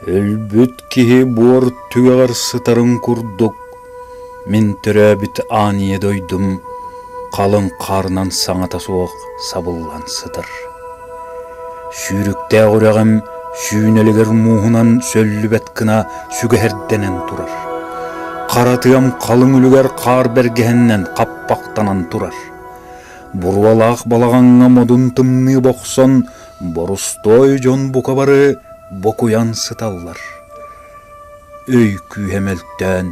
Өлбүт киһи буор түгэҕэр сытарын курдук, мин төрөөбүт аан ийэ дойдум халыҥ хаарынан саҥата суох сабыллан сытар. Сүүрүктээх үрэҕим сүүнэлигэр мууһунан сөллүбэт гына сүгэһэрдэнэн турар. Хара тыам халыҥ үлүгэр хаар бэргэһэннэн хаппахтанан турар. Буруолаах балаҕаҥҥа модун тымныы бохсон Борустуой дьон бука бары бокуйан сыталлар. Өй күүһэ мөлтөөн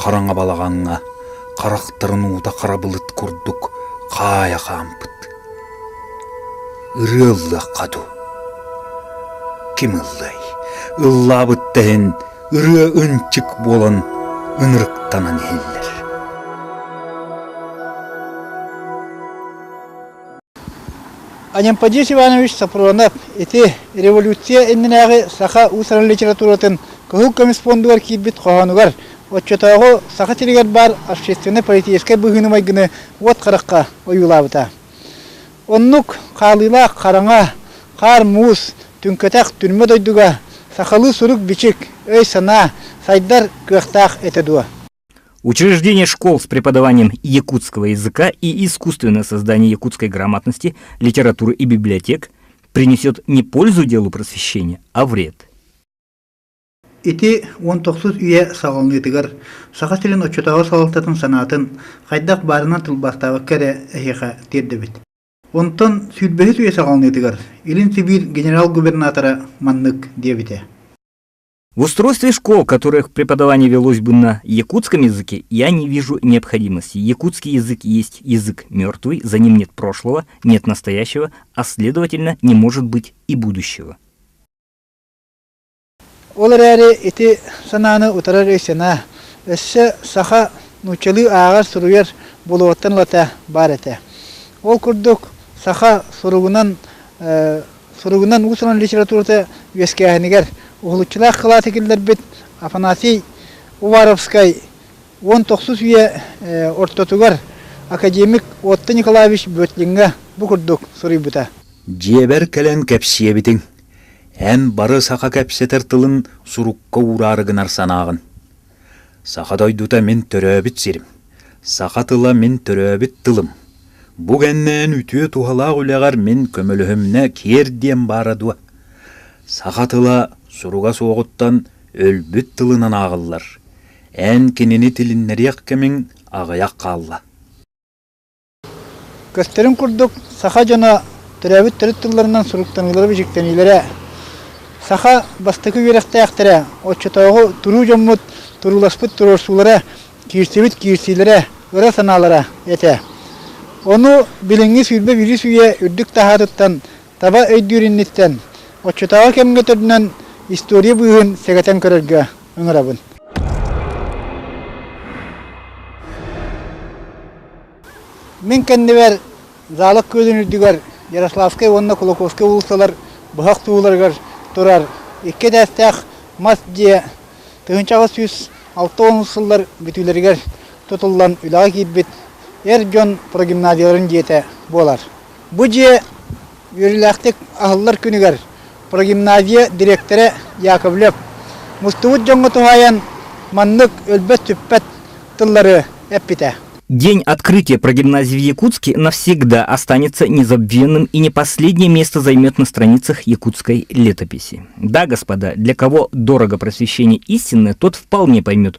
хараҥа балаҕаҥҥа харахтарын уута харабылыт курдук хаайа хаампыт. Ырыаллыахха ду. Ким ыллай? Ыллаабытта иһин ырыа ынчык буолан ынырыктанан иһиллэр. Анямпадис Иванович Сафронов ити революция иннинээҕи саха уус-уран литературатын кыһыл көмүс пуондугар киирбит хоһоонугар оччотооҕу Саха сиригэр баар общественно-политическай быһыыны-майгыны уот харахха ойуулаабыта. Оннук хаалыылаах хараҥа, хаар муус, түҥкэтэх түрмэ дойдуга сахалыы сурук-бичик, өй-санаа, сайдар кыахтаах этэ дуо? Учреждение школ с преподаванием якутского языка и искусственное создание якутской грамотности, литературы и библиотек принесет не пользу делу просвещения, а вред. Ити уон тохсус үйэ салалныытыгар саха силин отчутаҕа салалтатын санаатын хайдах баарынан тылбаастаабакка эрэ эһиэхэ тиэрдэбит. Онтон сүүрбэһис үйэ салалныытыгар Илин Сибиир генерал-губернатора маннык диэбитэ. В устройстве школ, которых преподавание велось бы на якутском языке, я не вижу необходимости. Якутский язык есть язык мертвый, за ним нет прошлого, нет настоящего, а следовательно не может быть и будущего. Ол эрээри ити санааны утарар өй-санаа өссө саха нууччалыы ааҕар суруйар болуоттан лата бар этэ. Ол курдук саха суругунан Суругунан уус-уран литературата үөскээһинигэр уһулуччулаах кылааты киллэрбит Афанасий Уваровскай уон тохсус үйэ ортотугар академик Отто Николаевич Бөтлиҥҥэ бу курдук суруйбута. Дьиэбэр кэлэн кэпсиэбитиҥ, эн бары саха кэпсэтэр тылын сурукка уураары гынар санааҕын. Саха дойдута мин төрөөбүт сирим, саха тыла мин төрөөбүт тылым. Бу кэннээн үтүө туһалаах үлэҕэр мин көмөлөһүмнэ киэр диэн баара дуо? Саха тыла суруга суоҕуттан өлбүт тылынан ааҕыллар. Эн кинини тилиннэриэх кэмиҥ аҕыйах хаалла. Көстөрүн курдук, саха дьоно төрөөбүт төрүт тылларынан суруктаныылара бичиктэниилэрэ. Саха бастакы үөрэхтээхтэрэ, оччотооҕу туруу дьоммут турууласпыт туруорсуулара, киирсибит киирсиилэрэ, ыра санаалара этэ. Ону билиҥҥи сүүрбэ биирис үйэ үрдүк таһаатыттан, таба өйдүүр инниттэн, оччотооҕу кэмҥэ төрүнэн история быыһын сэгэтэн көрөргө, ыҥырабын Мин кэннибэр Зала күөлүн үрдүгэр Ярославскай уонна Кулаковскай уулуссалар быһах тууларыгар турар икки этээстээх мас дьиэ тыһыынча аҕыс сүүс алта уон сыллар бүтүүлэригэр тутуллан үлэҕэ киирбит эр дьон прогимназияларын дьиэтэ буолар. Бу дьиэ үөрүүлээхтик аһыллар күнүгэр прогимназия дириэктэрэ Яковлев мустубут дьоҥҥо туһаайан маннык өлбөт-сүппэт тыллары эппитэ. День открытия прогимназии в Якутске навсегда останется незабвенным и не последнее место займет на страницах якутской летописи. Да, господа, для кого дорого просвещение истинное, тот вполне поймет,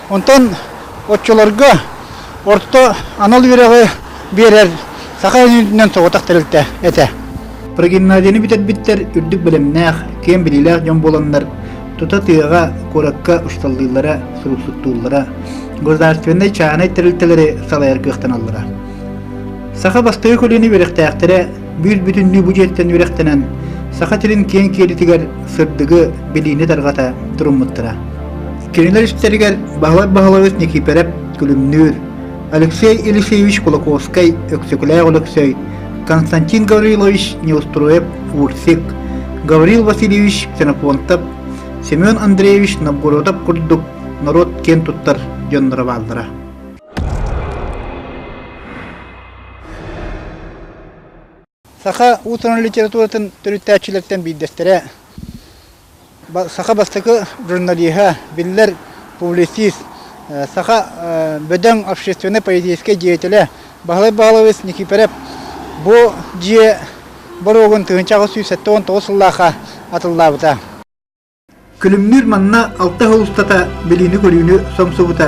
Онтон оччолорго орто анал үөрэҕи биэрэр саха өйүнэн соҕотох тэрилтэ этэ. Прогимназияны бүтэрбиттэр үрдүк бэлэмнээх, киэн билиилээх дьон буоланнар, тута тыаҕа, куоракка усталлыыллара, суруллуттууллара, государственнай чаанай тэрилтэлэри салайар кыахтаналлара. Саха бастакы көлүөнэ үөрэхтээхтэрэ биир бүтүннүү бу дьиэттэн үрэхтэнэн Саха сирин киэҥ киэлитигэр сырдыгы, билиини тарҕата туруммуттара. Кинилэр истэригэр Баһылай Баһылайович Никифоров күлүмнүүр, Алексей Елисеевич Кулаковскай, Өксөкүлээх Алексей, Константин Гаврилович Неустроев Урсик, Гаврил Васильевич Ксенофонтов, Семен Андреевич Новгородов курдук норуот киэн туттар дьонноро бааллара. Саха утрун литературатын төрүттээччилэриттэн биирдэстэрэ, саха бастакы журналиһа, биллэр публицист, саха бөдөҥ общественнай поэтическай деятеля Баһылай Баһыловец Никифоров бу дьиэ боруогун тыһыынча аҕыс сүүс сэттэ уон тоҕус сыллаахха атыллаабыта. Күлүмнүүр манна алта сыл устата билиини-көрүүнү сомсубута,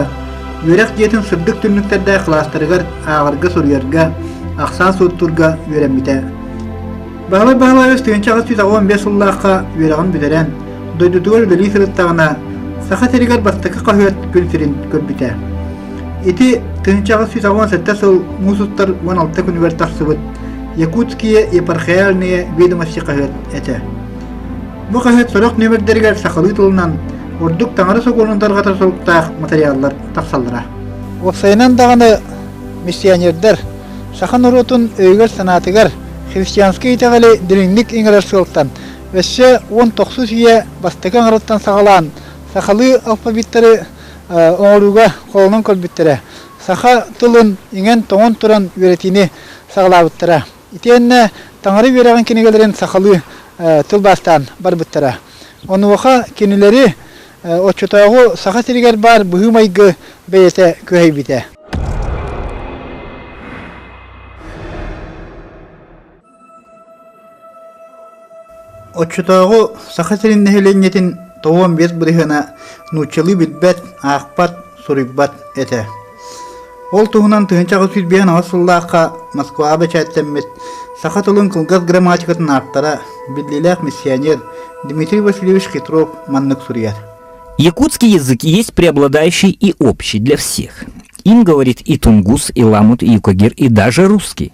үөрэх дьиэтин сырдык түннүктэрдээх кылаастарыгар ааҕарга-суруйарга, ахсаан-суоттуурга үөрэммитэ. Баһылай Баһылаевич тыһыынча аҕыс сүүс аҕыан биэс сыллаахха үөрэҕин бүтэрэн, дойдутугар үлэлии сырыттаҕына, Саха сиригэр бастакы хаһыат күн сирин көрбүтэ. Ити тыһыынча аҕыс сүүс аҕыан сэттэ сыл муус устар уон алта күнүгэр тахсыбыт Якутские епархиальные ведомости хаһыат этэ. Бу хаһыат сорох нүөмэрдэригэр сахалыы тылынан ордук таҥара сокуонун тарҕатар соруктаах матырыйааллар тахсаллара. Уопсайынан даҕаны миссионердар саха норуотун өйүгэр-санаатыгар христианскай итэҕэли дириҥник иҥэрэр сыалтан өссө уон тохсус үйэ бастакы аҥарыттан саҕалаан сахалыы алфавиттары оҥорууга холонон көрбүттэрэ саха тылын иҥэн-тоҥон туран үөрэтиини саҕалаабыттара. Итиэннэ таҥара үөрэҕин кинигэлэрин сахалыы тылбаастаан барбыттара. Онуоха кинилэри оччотооҕу Саха сиригэр баар быһыы-майгы бэйэтэ күһэйбитэ. Оччотооҕу Саха сирин нэһилиэнньэтин тоҕуон биэс бырыһыана нууччалыы билбэт, аахпат, суруйбат этэ. Ол туһунан тыһыынча аҕыс сүүс биэс аҕыс сыллаахха Москваҕа бэчээттэммит саха тылын кылгас грамматикатын ааптара, биллиилээх миссионер Дмитрий Васильевич Хитров маннык суруйар. Якутский язык есть преобладающий и общий для всех. Им говорит и тунгус, и ламут, и юкагир, и даже русский.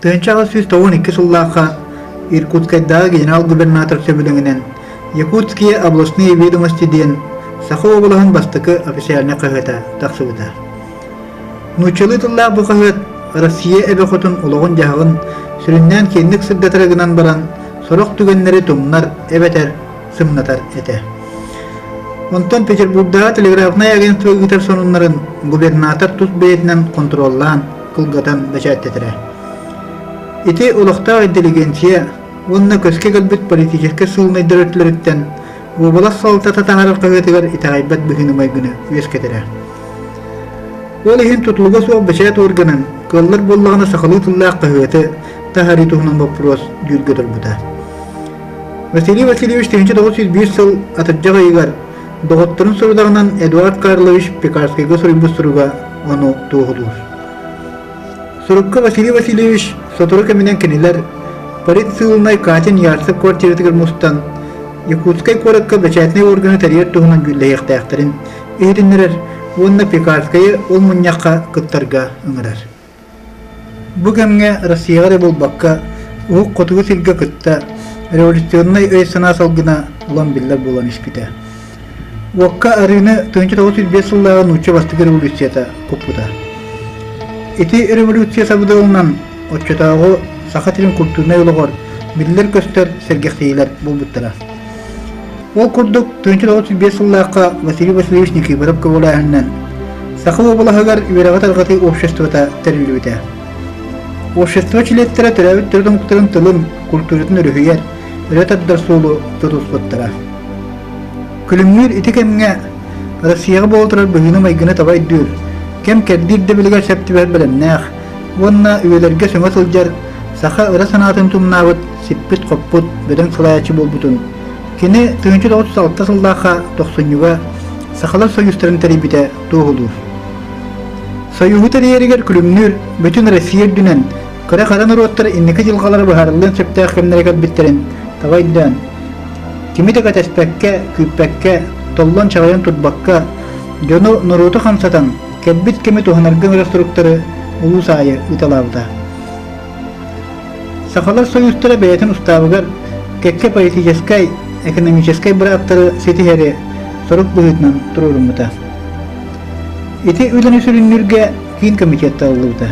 Тыанча аҕа сүүс тоҕус икки сыллаахха Иркутскайдааҕы генерал-губернатор сөбүлэҥинэн Якутские областные ведомости диэн Саха уобалаһын бастакы официальнай хаһыата тахсыбыта. Нууччалыы тыллаах бу хаһыат Россия эбэ хотун олоҕун-дьаһаҕын сүрүннээн киэнник сырдатара гынан баран сорох түгэннэри тумнар, эбэтэр сымнатар этэ. Онтон Петербурдааҕы телеграфнай агентство ыытар сонуннарын губернатор тус бэйэтинэн контроллаан, кылгатан бэчээттэтэрэ. Ити олохтоох интеллигенция уонна көскө кэлбит политическай сыылынайдар өттүлөрүттэн уобалас салалтата таһарар хаһыатыгар итэҕэйбэт быһыыны-майгыны үөскэтэрэ. Ол иһин тутулуга суох бэчээт органын кыаллар буоллаҕына сахалыы тыллаах хаһыаты таһарыы туһунан боппуруос дүүргэ турбута. Василий Васильевич тыһыынча тоҕус сүүс биир сыл атырдьах ыйыгар доҕотторун сорудаҕынан Эдуард Карлович Пекарскайга суруйбут суруга ону туоһулуур. Сурукка Василий Васильевич сотору кэминэн кинилэр Парит сыылынай Катин Ярцев квартиратыгар мустан Якутскай куоракка бэчээтинэй органы тэрийэр туһунан гүүллэһиэхтээхтэрин иһитиннэрэр уонна Пекарскайы ол мунньахха кыттарга ыҥырар. Бу кэмҥэ Россияҕа эрэ буолбакка, Уһук Хотугу сиргэ кытта революционнай өй-санаа салгына улам биллэр буолан испитэ. Уокка арыыны 1908 сыллааҕы нуучча бастакы революцията куппута. Ити революция сабыдалынан оччотооҕу Саха сирин культурнай олоҕор биллэр-көстөр сэргэхсийиилэр буолбуттара. Ол курдук, тыынча тоҕус биэс сыллаахха Василий Васильевич Никифоров көҕүлээһининэн Саха уобалаһыгар үөрэҕи тарҕатыы обществота тэриллибитэ. Общество чилиэттэрэ төрөөбүт төрүт омуктарын тылын, культуратын өрүһүйэр, өрө тардар суолу тутуспуттара. Күлүмнүүр ити кэмҥэ Россияҕа буола турар быһыыны-майгыны таба өйдүүр, кэм-кэрдиир дэбилигэр сөптүбэт бэлэмнээх уонна үйэлэргэ сөҥө сылдьар саха ыра санаатын тумнаабыт сиппит-хоппут бөдөҥ салайааччы буолбутун, кини тыһыынча тоҕус алта сыллаахха тохсунньуга Сахалар союзтарын тэрийбитэ туоһулуур. Союһу тэрийэригэр күлүмнүүр бүтүн Россия үрдүнэн кыра хара норуоттар инники дьылҕалара быһаарыллыан сөптөөх кэмнэрэ кэлбиттэрин таба өйдөөн, кими да кэтэспэккэ, күүппэккэ, толлон чаҕыйан турбакка, дьону, норуоту хамсатан, кэлбит кэми туһанарга өрө суруктары улуус аайы ыыталаабыта. Сахалар союзтара бэйэтин устаабыгар кэккэ политическай, экономическай бырааптары ситиһэри сорук быһыытынан туруоруммута. Ити үлэни сүрүннүүргэ киин комитет талыллыбыта.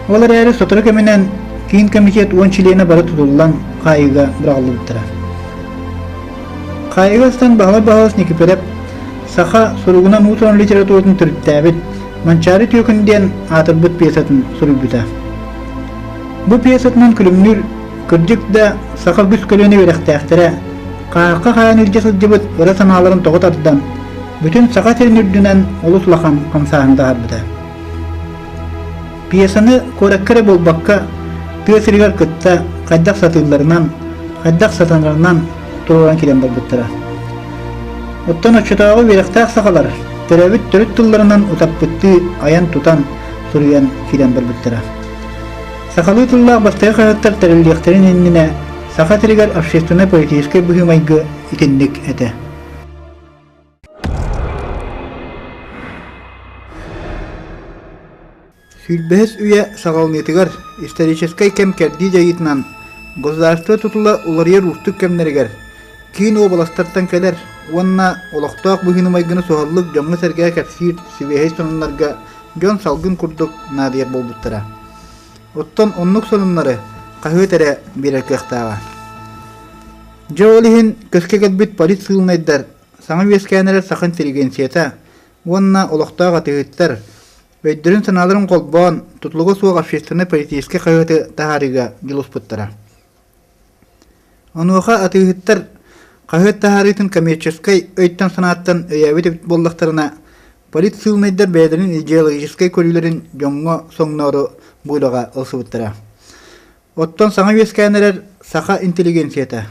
Ол эрээри сотору кэминэн киин комитет уон чилиэнэ бары тутуллан хаайыыга быраҕыллыбыттара. Хаайыга астан баһылай баһылас Никифоров саха суругунан уус литературатын төрүттээбит Манчаары Түөкүн диэн аатырбыт пьесатын суруйбута. Бу пьесатынан күлүмнүүр кырдьык да саха үгүс көлүөнэ үөрэхтээхтэрэ хаһахха хаайан илдьэ сылдьыбыт ыра санааларын тоҕо тардан, бүтүн саха сирин үрдүнэн олус улахан хамсааһыны таһаарбыта. Пьесаны куоракка эрэ буолбакка, тыа сиригэр кытта хайдах сатыылларынан, хайдах сатанарынан туруоран киирэн барбыттара. Оттон оччотооҕу үөрэхтээх сахалар төрөөбүт төрүт тылларынан утаппыттыы айан-тутан, суруйан киирэн барбыттара. Сахалыы тыллаах бастакы хаһыаттар тэриллиэхтэрин иннинэ Саха тиригэр общественно-политическай быһыы-майгы итинник этэ. Сүүрбэһис үйэ саҕаланыытыгар историческай кэм кэрдии дьайыытынан государство тутула уларыйар уустук кэмнэригэр киин уобаластартан кэлэр уонна олохтоох быһыыны-майгыны суһаллык дьоҥҥо-сэргэ кэпсиир сибиэһэй сонуннарга дьон салгын курдук наадыйар буолбуттара. Оттон оннук сонуннары хаһыат эрэ биэрэр кыахтааҕа. Дьэ ол иһин көскө кэлбит политсыылынайдар саҥа үөскээннэрэ саха интеллигенцията уонна олохтоох атыыһыттар өйдөрүн-санааларын холбоон тутулуга суох общественнай-политическай хаһыаты таһаарыыга дьулуспуттара. Онуоха атыыһыттар хаһыат таһаарыытын коммерческай өйтөн-санааттан өйөөбүт эбит буоллахтарына, политсыылынайдар бэйэлэрин идеологическай көрүүлэрин дьоҥҥо соҥноору буулаҕа ылсыбыттара. Оттон саҥа үөскээн эрэр саха интеллигенцията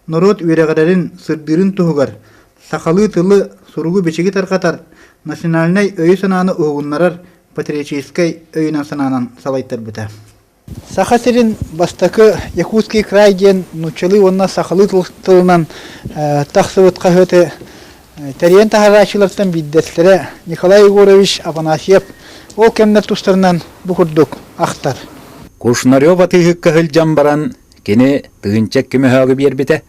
норуот үөрэҕирэрин, сырдыырын туһугар сахалыы тылы, суругу-бичиги тарҕатар, национальнай өйү-санааны уһугуннарар патриотическай өйүнэн-санаанан салайтарбыта. Саха сирин бастакы Якутский край диэн нууччалыы уонна сахалыы тылынан тахсыбыт хаһыаты тэрийэн таһарааччылартан биирдэстэрэ Николай Егорович Афанасьев ол кэмнэр тустарынан бу курдук ахтар. Кушнарев атыыһыкка сылдьан баран кини тыһыынча көмөһөөҕү биэрбитэ.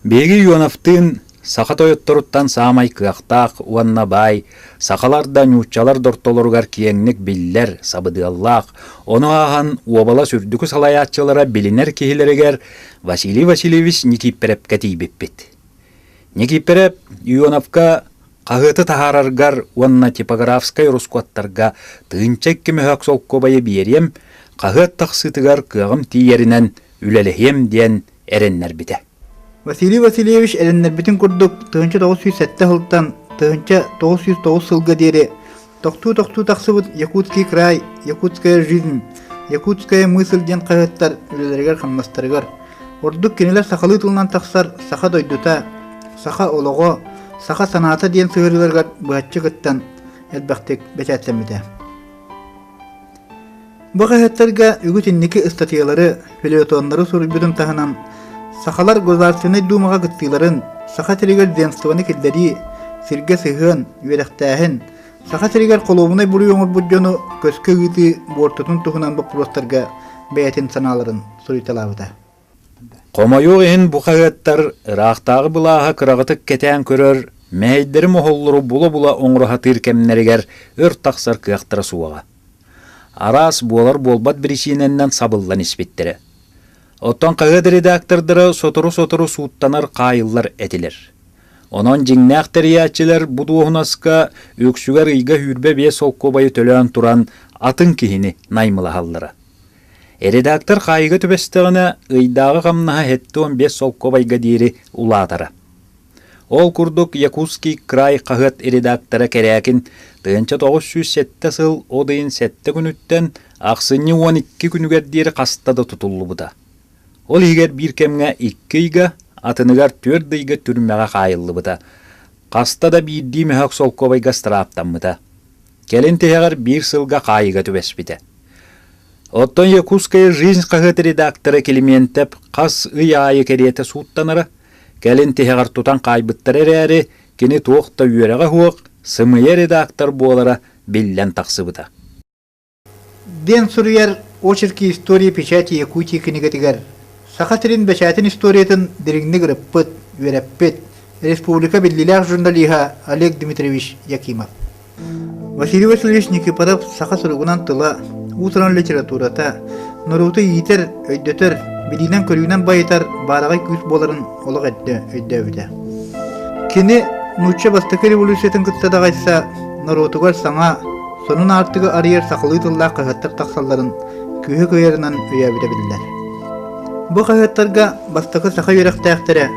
Биһиги Юновтыын саха тойотторуттан саамай кыахтаах уонна баай сахалар да ньууччалар да ортолоругар киэҥник биллэр, сабыдыаллаах, ону ааһан уобалас үрдүкү салайааччылара билинэр киһилэригэр Василий Васильевич Никиппэрэпкэ тиийбиппит. Никииппэрэ Ионовка хаһыаты таһаараргар уонна типографскай ороскуоттарга тыынча икки мөһөөк солкуобайы биэриэм, хаһыат тахсыытыгар кыаҕым тиийэринэн үлэлэһиэм диэн эрэннэрбитэ. Василий Васильевич эрэннэрбитин курдук тыһыынча тоҕус сүүс сэттэ сылтан тыһыынча тоҕус сүүс тоҕус сылга диэри Тохтуу-тохтуу тахсыбыт «Якутский край», «Якутская жизнь», «Якутская мысль» диэн хаһыаттар үлэлэригэр-хамнастарыгар, ордук кинилэр сахалыы тылынан тахсар «Саха дойдута», «Саха олоҕо», «Саха санаата» диэн сыһыарыыларыгар быһаччы кыттан, элбэхтик бэчээттэммитэ. Бу хаһыаттарга үгүс инники ыстатыйалары, фельетоннары суруйбутун таһынан, сахалар Государственнай Дуумаҕа кыттыыларын, Саха сиригэр земствоны киллэрии, сиргэ сыһыан, үөрэхтээһин, Саха сиригэр холуобунай буруй оҥорбут дьону көскө ыытыы буортутун туһунан боппуруостарга бэйэтин санааларын суруйталаабыта. Хомойуох иһин бу хаһыаттар ыраахтааҕы былааһы кыраҕытык кэтээн көрөр, мэһэйдэрим оһоллору була-була оҥроһатыыр кэмнэригэр өр тахсар кыахтара суоҕа. Араас буолар-буолбат биричиинэннэн сабыллан испиттэрэ. Оттон хаһыат редактордара сотору-сотору сууттанар хаайыллар этилэр. Онон дьиҥнээх тэрийээччилэр бу дуоһунаска үксүгэр ыйга сүүрбэ биэс солкуобайы төлөөн туран атын киһини наймылаһаллара. Редактор хаайыга түбэстэҕинэ, ыйдааҕы хамнаһа сэттэ уон биэс солкуобайга диэри улаатара. Ол курдук «Якутский край» хаһыат редактора Кэрээкин тыһыынча тоҕус сүүс сэттэ сыл от ыйын сэттэ күнүттэн ахсынньы уон икки күнүгэр диэри хаста да тутуллубута. Ол иһигэр биир кэмҥэ икки ыйга, атыныгар түөрт ыйга түрмэҕэ хаайыллыбыта. Хаста да биирдии мөһөөк солкуобайга страаптаммыта. Кэлин тиһэҕэр биир сылга хаайыыга түбэспитэ. Оттон «Якутская жизнь» хаһыат редактора Климентев хас ый аайы кэриэтэ сууттанара, кэлин тиһэҕэр тутан хаайбыттара эрээри, кини туох да үөрэҕэ суох, сымыйа редактор буолара биллэн тахсыбыта. Диэн суруйар «Очерки истории печати Якутии» кинигэтигэр Саха сирин бэчээтин историятын дириҥник ырыппыт, үөрэппит республика биллиилээх журналиһа Олег Дмитриевич Якимов. Василий Васильевич Никифоров саха суругунан тыла, уус-уран литературата, норуоту иитэр, өйдөтөр, билиинэн-көрүүнэн байытар баараҕай күүс буоларын олох өйдөөбүтэ. Кини нуучча бастакы революциятын кытта даҕайса норуотугар саҥа, сонун аартыгы арыйар сахалыы тыллаах хаһыаттар тахсалларын күүһэ кыайарынан өйөөбүтэ биллэр. Бу хаһыаттарга бастакы саха үөрэхтээхтэрэ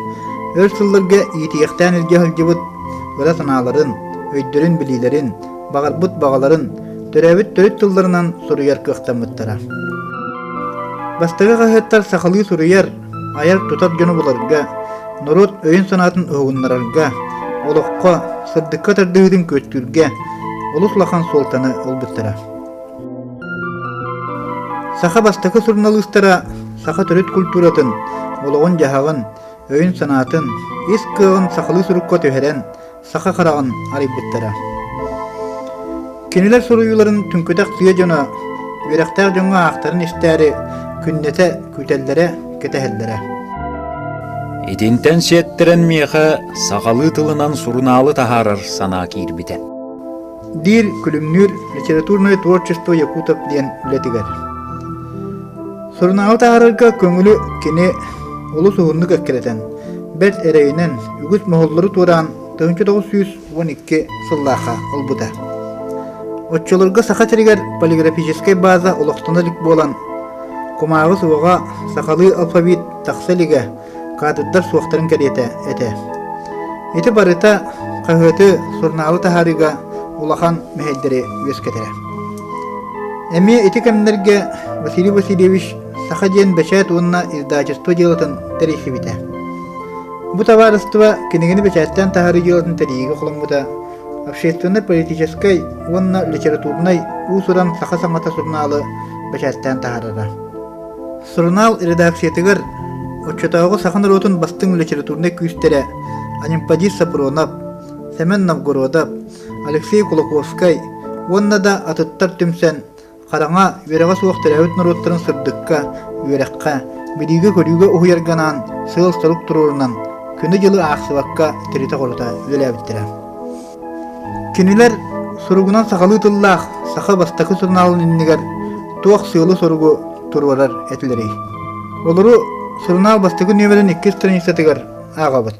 өр сылларга иитиэхтээн илдьэ сылдьыбыт ыра санааларын, өйдөрүн-билиилэрин, баҕарбыт баҕаларын, төрөөбүт төрүт тылларынан суруйар кыахтаммыттара. Бастакы хаһыаттар сахалыы суруйар, айар-тутар дьону буларга, норуот өйүн-санаатын уһугуннарарга, олоххо, сырдыкка тардыһыытын күөстүүргэ олус улахан суолтаны ылбыттара. Саха бастакы суруналыыстара саха төрүт культуратын, олоҕун-дьаһаҕын, өйүн-санаатын, ис кыаҕын сахалыы сурукка түһэрэн, саха хараҕын арыйбыттара. Кинилэр суруйууларын түҥкүтэх тыа дьоно, үөрэхтээх дьоҥҥо аахтарын истээри күннэтэ күүтэллэрэ, кэтэһэллэрэ. Итинтэн сиэттэрэн миэхэ сахалыы тылынан сурунаалы таһаарар санаа киирбитэ. диир Күлүмнүүр литературное творчество Якутов диэн үлэтигэр. Сурунаалы таһаарарга көҥүлү кини олус уһуннук эккирэтэн, бэрт эрэйинэн, үгүс моһоллору туораан 1902 сыллаахха ылбыта. Оччолорго Саха сиригэр полиграфическай база олохтоно илик буолан, кумааҕы суоҕа сахалыы алфавит тахса илигэ каадырдар суохтарын кэриэтэ этэ. Ити барыта хаһыаты сурунаалы таһаарыыга улахан мэһэйдэри үөскэтэрэ. Эмиэ ити кэмнэргэ Василий Васильевич саха диэн бэчээт уонна издательство дьыалатын тэрийсибитэ. Бу табаарыстыба кинигэни бэчээттээн таһаарыы дьыалатын тэрийиигэ холоммута общественно-политическай уонна литературнай уус-уран саха саҥата сурунаалы бэчээттээн таһаарара. Сурунаал редакциятыгар оччотооҕу саха норуотун бастыҥ литературнай күүстэрэ Анемподий Сапронов, Сэмэн Новгородов, Алексей Кулаковскай уонна да атыттар түмсэн хараҥа, үөрэҕэ суох төрөөбүт норуоттарын сырдыкка, үөрэххэ, билиигэ-көрүүгэ уһуйарга анаан сыал-сорук туруорунан күнү-дьылы аахсыбакка тиритэ-хорута үлэлээбиттэрэ. Кинилэр суругунан сахалыы тыллаах саха бастакы сурунаалын иннигэр туох сыалы-соругу туруорар этилэрий? Олору сурунаал бастакы нүөмэрин иккис страницатыгар ааҕабыт.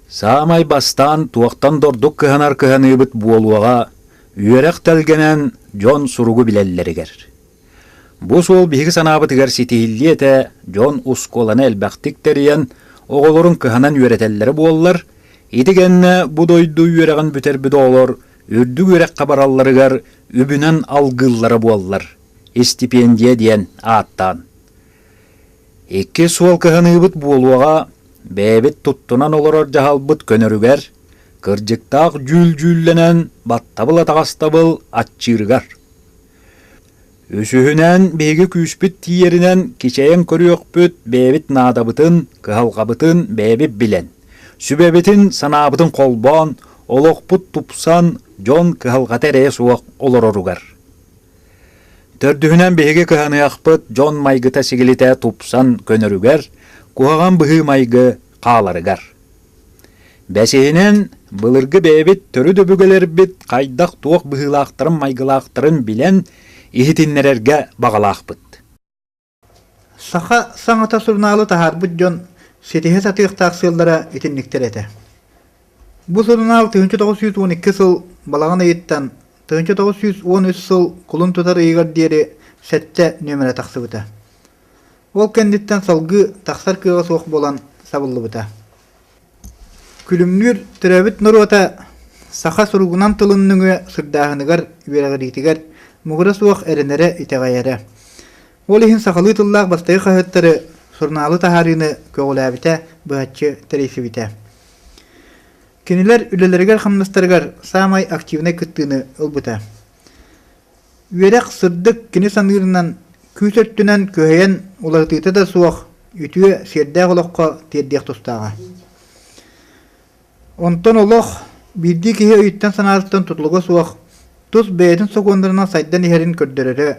Саамай бастаан туохтан дордук кыһанар кыһаныыбыт буолуоҕа үөрэх тэлгэнэн дьон суругу билэллэригэр. Бу суол биһиги санаабытыгар ситиһиллиэ этэ дьон ускуоланы элбэхтик тэрийэн, оҕолорун кыһанан үөрэтэллэрэ буоллар, ити кэннэ бу дойду үөрэҕин бүтэрбит оҕолор үрдүк үөрэххэ баралларыгар үбүнэн алгыыллара буоллар, истипиэндийэ диэн ааттаан. Икки суол кыһаныыбыт буолуоҕа, бэйэбит туттунан олорор дьаһалбыт көнөрүгэр, кырдьыктаах дьүүл-дьүүллэнэн баттабыл-атаҕастабыл аччыырыгар. Үсүһүнэн, биһиги күүспүт тиийэринэн кичэйэн көрүөхпүт, бэйэбит наадабытын, кыһалҕабытын бэйэбит билэн, сүбэбитин, санаабытын холбоон, олохпут тупсан, дьон кыһалҕата эрэйэ суох олороругар. Төрдүһүнэн биһиги кыһаныахпыт, дьон майгыта-сигилитэ тупсан көнөрүгэр, куһаҕан быһыы-майгы хааларыгар. Бэсиһинэн, былыргы бэйэбит төрүт өбүгэлэрбит хайдах-туох быһыылаахтарын-майгылаахтарын билэн, иһитиннэрэргэ баҕалаахпыт. Саха саҥата сурунаалы таһаарбыт дьон ситиһэ сатыахтаах сыаллара итинниктэр этэ. Бу сурунаал 1912 сыл балаҕан ыйыттан 1913 сыл кулун тутар ыйыгар диэри сэттэ нүөмэрэ тахсыбыта. Ол кэнниттэн салгыы тахсар кыаҕа суох буолан сабыллыбыта. Күлүмнүүр төрөөбүт норуота саха суругунан тылын нөҥүө сырдааһыныгар, үөрэҕириитигэр муҥура суох эрэнэрэ-итэҕэйэрэ. Ол иһин сахалыы тыллаах бастакы хаһыаттары сурунаалы таһаарыыны көҕүлээбитэ быһаччы тэрийсибитэ. Кинилэр үлэлэригэр-хамнастарыгар саамай активнай кыттыыны ылбыта. Үөрэх сырдык кини саныырынан күүс өттүнэн күһэйэн уларытыыта да суох үтүө сиэрдээх олоххо тиэрдиэх тустааҕа. Онтон олох биирдии киһи өйүттэн-санаатыттан тутулуга суох тус бэйэтин сокуоннарынан сайдан иһэрин көрдөрөрө,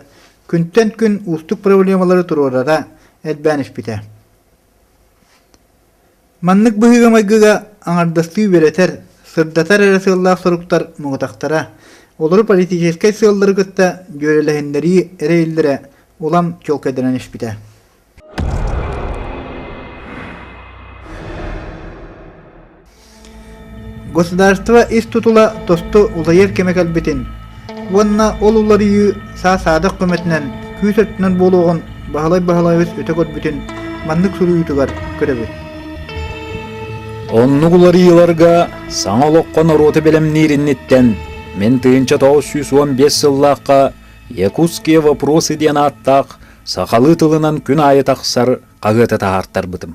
күнтэн күн уустук проблемалары туруорара элбээн испитэ. Маннык быһыыга-майгыга аҥардастыы үөрэтэр, сырдатар эрэ сыаллаах соруктар муҥутахтара, олору политическай сыаллары кытта дьүөрэлэһиннэрии эрэйиллэрэ улам чуолкайданан испитэ. Государство ис тутула тосту улайар кэмэ кэлбитин уонна ол уларыйыы саа-саадах көмөтүнэн күүс өттүнэн буолуоҕун Баһылай Баһылайбыс өтө көрбүтүн маннык суруйуутугар көрөбүт. Оннук уларыйыыларга саҥа олоххо норуоты бэлэмниир инниттэн мин тыйынча тоҕус сүүс уон биэс сыллаахха «Якутские вопросы» диэн ааттаах сахалыы тылынан күн аайы тахсар хаһыаты таһаартарбытым.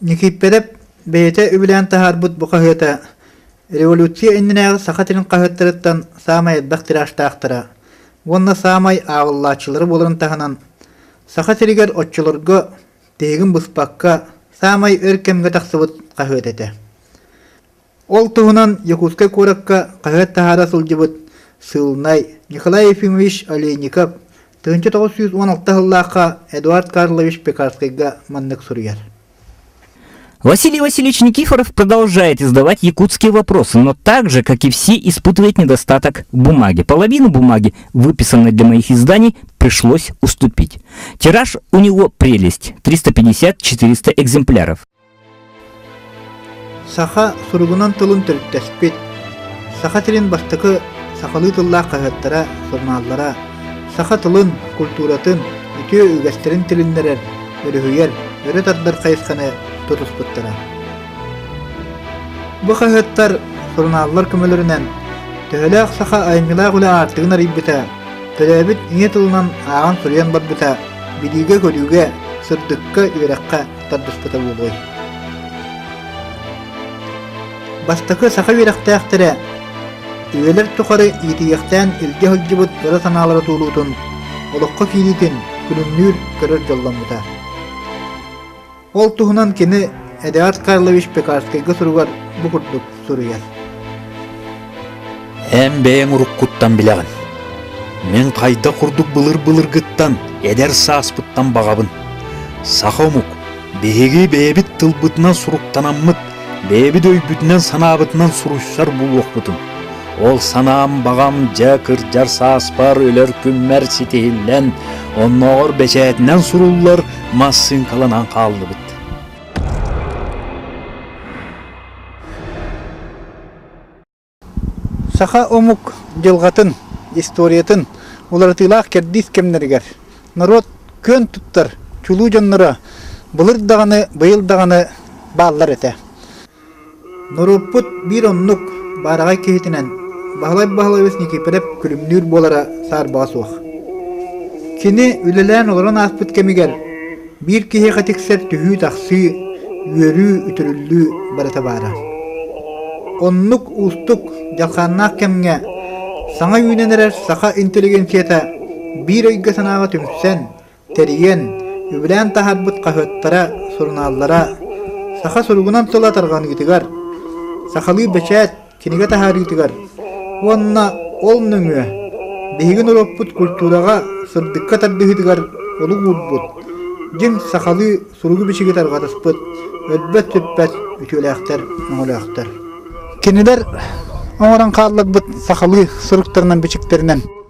Никииппэрэп бэйэтэ үбүлээн таһаарбыт бу хаһыата революция иннинээҕи Саха сирин хаһыаттарыттан саамай элбэх тиражтаахтара уонна саамай ааҕыллааччылара буоларын таһынан Саха сиригэр оччолорго тиһигин быспакка саамай өр кэмҥэ тахсыбыт хаһыат этэ Ол туһунан Якутскай куоракка хаһыат таһаара сылдьыбыт сыылынай Николай Ефимович Олейников тыһыынча тоҕус сүүс уон алта сыллаахха Эдуард Карлович Пекарскайга маннык суруйар. Василий Васильевич Никифоров продолжает издавать якутские вопросы, но так же, как и все, испытывает недостаток бумаги. Половину бумаги, выписанной для моих изданий, пришлось уступить. Тираж у него прелесть – 350-400 экземпляров. Саха суругунан тылын төрүттэспит, Саха сирин бастакы сахалыы тыллаах хаһыаттара, сурунааллара саха тылын, культуратын, үтүө үгэстэрин тилиннэрэр, өрүһүйэр, өрө тардар хайысханы тутуспуттара. Бу хаһыаттар, сурунааллар көмөлөрүнэн төһөлөөх саха айымньылаах үлэ аартыгын арыйбыта, төрөөбүт ийэ тылынан ааҕан суруйан барбыта билиигэ-көрүүгэ, сырдыкка, үөрэххэ тардыспыта буолуой бастакы саха үөрэхтээхтэрэ үйэлэр тухары иитийэхтээн илдьэ сылдьыбыт ыра санаалара туолуутун олоххо киириитин күнүннүүр көрөр дьолломмута ол туһунан кини эдуард карлович пекарскайга суругар бу курдук суруйар. Эн бэйэҥ уруккуттан билэҕин. Мин хайдах курдук былыр-былыргыттан эдэр сааспыттан баҕабын. Саха омук биһиги бэйэбит тылбытынан суруктанаммыт, бэйэбит өйбүтүнэн-санаабытынан суруйсар булуохпутун. Ол санаам баҕам дьэ кырдьар сааспар өлөр күммэр ситиһиллэн, оннооҕор бэчээтинэн суруллар массыыҥкаланан хааллыбыт. Саха омук дьылҕатын, историятын уларытыылаах кэрдиис кэмнэригэр норуот күөн туттар чулуу дьонноро былыр даҕаны, быйыл даҕаны бааллар этэ. Норуоппут биир оннук баараҕай киһитинэн Баһылай Баһылайбыс Никифоров күлүмнүүр буолара саарбаҕа суох. Кини үлэлээн олорон ааспыт кэмигэр Биир киһиэхэ тиксэр түһүү-тахсыы, үөрүү, үтүрүллүү барыта баара. Оннук уустук, дьалхааннаах кэмҥэ саҥа үүнэн эрэр саха интеллигенцията биир өйгө-санааҕа түмсэн, тэрийэн, үбүлээн таһаарбыт хаһыаттара, сурунааллара саха суругунан тыла тарҕаныытыгар, сахалыы бэчээт, кинигэ таһаарыытыгар уонна ол нөҥүө биһигин олохпут культураҕа сырдыкка тардыһыытыгар олук уурбут дьиҥ сахалыы суругу-бичиги тарҕатыспыт өлбөт-сүппэт үтүөлээхтэр өҥөлөөхтөр кинилэр оҥорон хаалларбыт сахалыы суруктарынан-бичиктэринэн